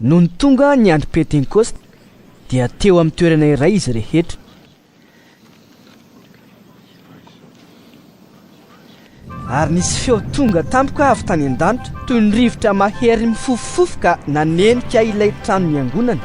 Nony tonga ny andro Pentekosta, dia teo amin'ny toerana iray izy rehetra. Ary nisy feo tonga tampoka avy tany an-danitra toy ny rivotra mahery mifofofofo ka nanenika ilay trano niangonana.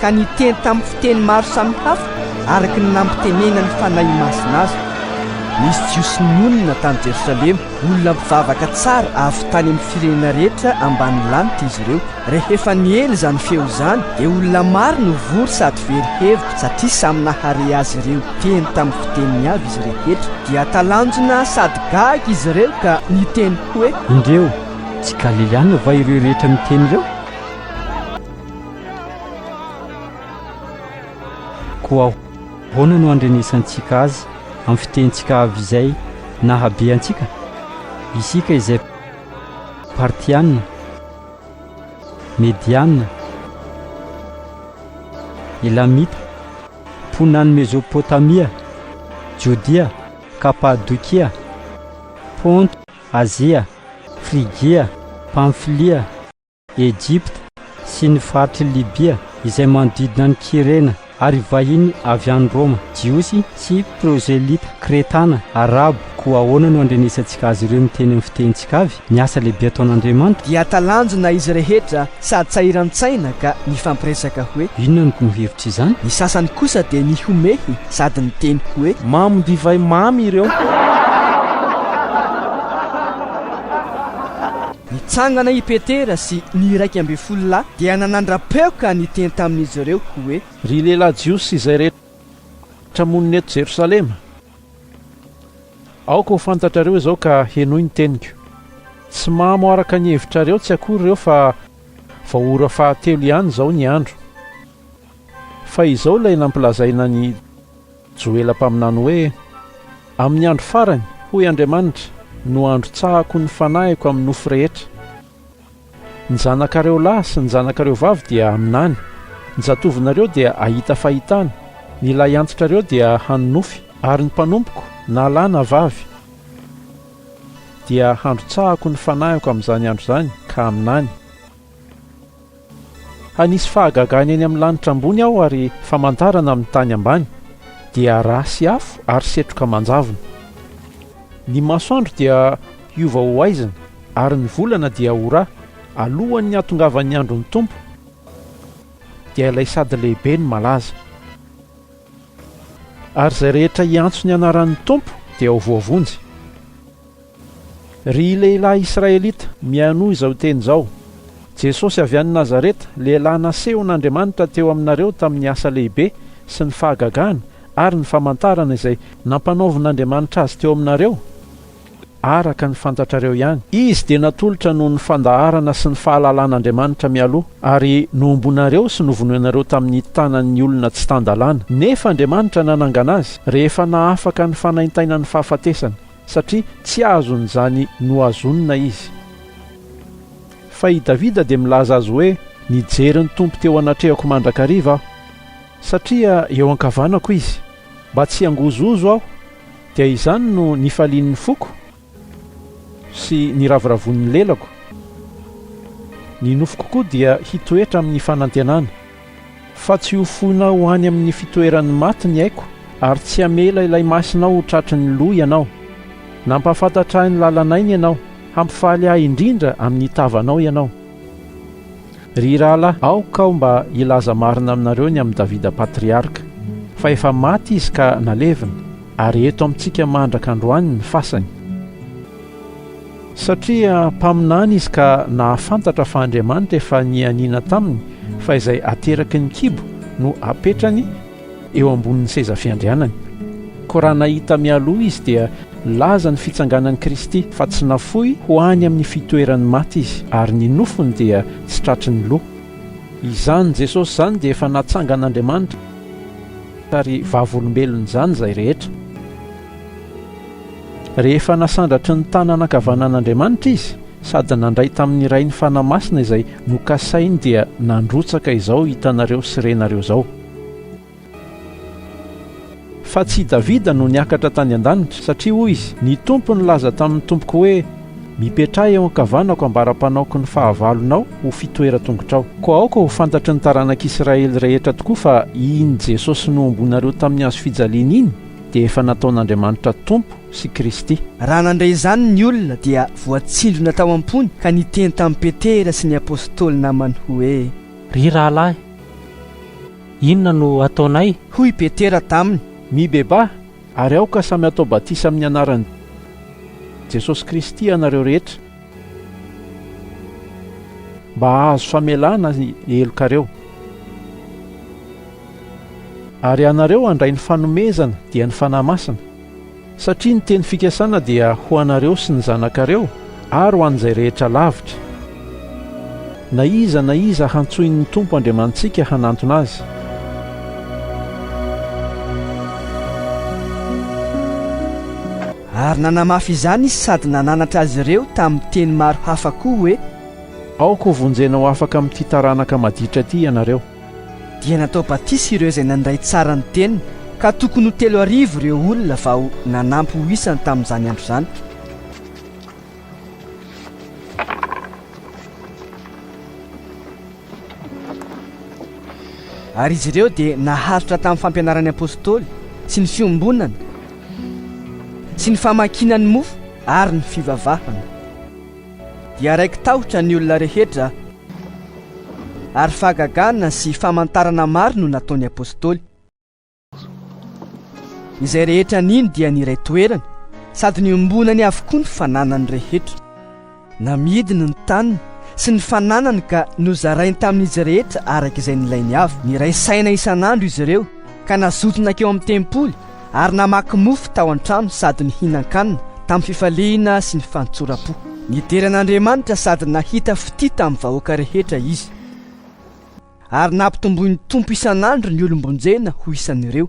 ka niteny tamin'ny fiteny maro samihafa araka ny nampitenena ny Fanahy Masina azy. Nisy Jiosy nonina tany Jerosalema, olona mpivavaka tsara avy tany amin'ny firenena rehetra ambanin'ny lanitra izy ireo. Rehefa niely izany feo izany, dia olona maro no vory sady very hevitra, satria samy nahare azy ireo teny tamin'ny fiteniny avy izy rehetra. Dia talanjona sady gaga izy ireo ka niteny hoe. Indreo, tsy Galiliana va ireo rehetra miteny ireo? Koa ahoana no andrenesantsika Azy amin'ny fitenintsika avy izay nahabe antsika? Isika izay Partiana, Mediana, Elamita, mponan'i Mezopotamia, Jodia, Kapadokia, Ponto, Azia, Frigia, Pamfilia, Ejipta sy ny faritr'i Libia izay manodidina an'i Kyrena, ary vahiny avy any Roma, Jiosy sy Prozelita, Kretana, Arabo. Koa ahoana no andrenesantsika azy ireo miteny amin'ny fitenintsika avy ny asa lehibe ataon'Andriamanitra? Dia talanjona izy rehetra sady sahiran-tsaina ka nifampiresaka hoe. Inona no no hevitry izany? Ny sasany kosa dia nihomehy sady niteny hoe. Mamo divay mamy ireo. Nitsangana i Petera sy ny iraika ambin'ny folo lahy dia nanandra-peo ka niteny tamin'izy ireo hoe. Ry lehilahy Jiosy izay rehetra monina eto Jerosalema, aoka ho fantatrareo izao ka henoy ny teniko. Tsy mamo araka ny hevitrareo tsy akory ireo fa vao ora fahatelo ihany izao ny andro. Fa izao ilay nampilazaina an'i Joela mpaminany hoe, Amin'ny andro farany, hoy Andriamanitra, no handrotsahako ny Fanahiko amin'ny nofo rehetra. Ny zanakareo lahy sy ny zanakareo vavy dia haminany, ny zatovinareo dia hahita fahitana, ny lahy antitrareo dia hanonofy, ary ny mpanompoko, na lahy na vavy, dia handrotsahako ny Fanahiko amin'izany andro izany ka haminany. Hanisy fahagagana eny amin'ny lanitra ambony Aho ary famantarana amin'ny tany ambany, dia rà sy afo ary setroka manjavona. Ny masoandro dia hiova ho haizina ary ny volana dia ho rà, alohan'ny hahatongavan'ny andron'ny Tompo, dia ilay sady lehibe no malaza. Ary izay rehetra hiantso ny anaran'ny Tompo dia ho voavonjy. Ry lehilahy Israelita, mihainoa izao teny izao, Jesosy avy any Nazareta, lehilahy nasehon' Andriamanitra teo aminareo tamin' ny asa lehibe sy ny fahagagana ary ny famantarana izay nampanaovin' Andriamanitra Azy teo aminareo, araka ny fantatrareo ihany. Izy dia natolotra noho ny fandaharana sy ny fahalalan' Andriamanitra mialoha, ary nohombonareo sy novonoinareo tamin' ny tanan' ny olona tsy tan-dalàna, nefa Andriamanitra nanangana Azy, rehefa nahafaka ny fanaintainany fahafatesana. satria tsy azon'izany nohazonina izy. Fa i Davida dia milaza azy hoe, Nijery ny Tompo teo anatrehako mandrakariva aho, satria eo ankavanako Izy, mba tsy hangozohozo aho, dia izany no nifalian'ny foko sy niraviravon'ny lelako, ny nofoko koa dia hitoetra amin'ny fanantenana. Fa tsy ho foinao ho any amin'ny fitoeran'ny maty ny aiko, ary tsy hamela ilay Masinao ho tratry ny loha Ianao. Nampahafantatra ahy ny lalan'aina Ianao, hampifaly ahy indrindra amin'ny tavanao Ianao. Ry rahalahy, aoka aho mba hilaza marina aminareo ny amin'i Davida Patriarka, fa efa maty izy ka nalevina, ary eto amintsika mandraka androany ny fasany. Satria mpaminany izy ka nahafantatra fa Andriamanitra efa nianiana taminy fa izay ateraky ny kibo no apetrany eo ambonin'ny seza fiandrianany. Koa raha nahita mialoha izy dia nilaza ny fitsanganan'i Kristy fa tsy nafoy ho any amin'ny fitoeran'ny maty izy ary ny nofony dia tsy tratry ny loha. Izany Jesosy izany dia efa natsangan'Andriamanitra ary vavolombelon'izany izay rehetra. Rehefa nasandratry ny tanana ankavanan'Andriamanitra izy sady nandray tamin'ny Rainy Fanahy Masina izay nokasainy dia nandrotsaka izao hitanareo sy renareo izao. Fa tsy i Davida no niakatra tany an-danitra, satria hoy izy, Ny Tompo nilaza tamin'ny Tompoko hoe, Mipetraha eo ankavanako ambara-panaoko ny fahavalonao ho fitoeran-tongotrao. Koa aoka ho fantatry ny taranak'Israely rehetra tokoa fa iny Jesosy nohomboinareo tamin'ny hazo fijaliana iny, dia efa nataon'Andriamanitra Tompo sy Kristy. Raha nandre izany ny olona dia voatsindrona tao am-pony ka niteny tamin'i Petera sy ny Apôstôly namany hoe. Ry rahalahy, inona no ataonay? Hoy i Petera taminy. Mibebaha ary aoka samy atao batisa amin'ny anaran'i Jesosy Kristy ianareo rehetra mba hahazo famelana ny helokareo. Ary ianareo handray ny fanomezana, dia ny Fanahy Masina, satria ny teny fikasana dia ho anareo sy ny zanakareo ary ho an'izay rehetra lavitra, na iza na iza hantsoin'ny Tompo Andriamanitsika hanantona azy. Ary nanamafy izany izy sady nananatra azy ireo tamin'ny teny maro hafa koa hoe. Aoka hovonjena ho afaka amin'ity taranaka maditra ity ianareo. Dia natao batisa ireo izay nandray tsara ny teny, ka tokony ho telo arivo ireo olona vao nanampy ho isany tamin'izany andro izany. Ary izy ireo dia naharitra tamin'ny fampianaran'ny apostoly sy ny fiombonana sy ny famakiana ny mofo ary ny fivavahana. dia raiki-tahotra ny olona rehetra, ary fahagagana sy famantarana maro no nataon'ny apostoly. Izay rehetra nino dia niray toerana, sady niombonany avokoa ny fananany rehetra. Namidiny ny taniny sy ny fananany ka nozarainy tamin'izy rehetra araka izay nilainy avy. Niray saina isan'andro izy ireo ka nazoto nankeo amin'ny tempoly, ary namaky mofo tao an-trano sady nihinan-kanina tamin'ny fifaliana sy ny fantsoram-po. Nidera an'Andriamanitra sady nahita fitia tamin'ny vahoaka rehetra izy, ary nampitomboin'ny Tompo isan'andro ny olom-bonjena ho isan'ireo.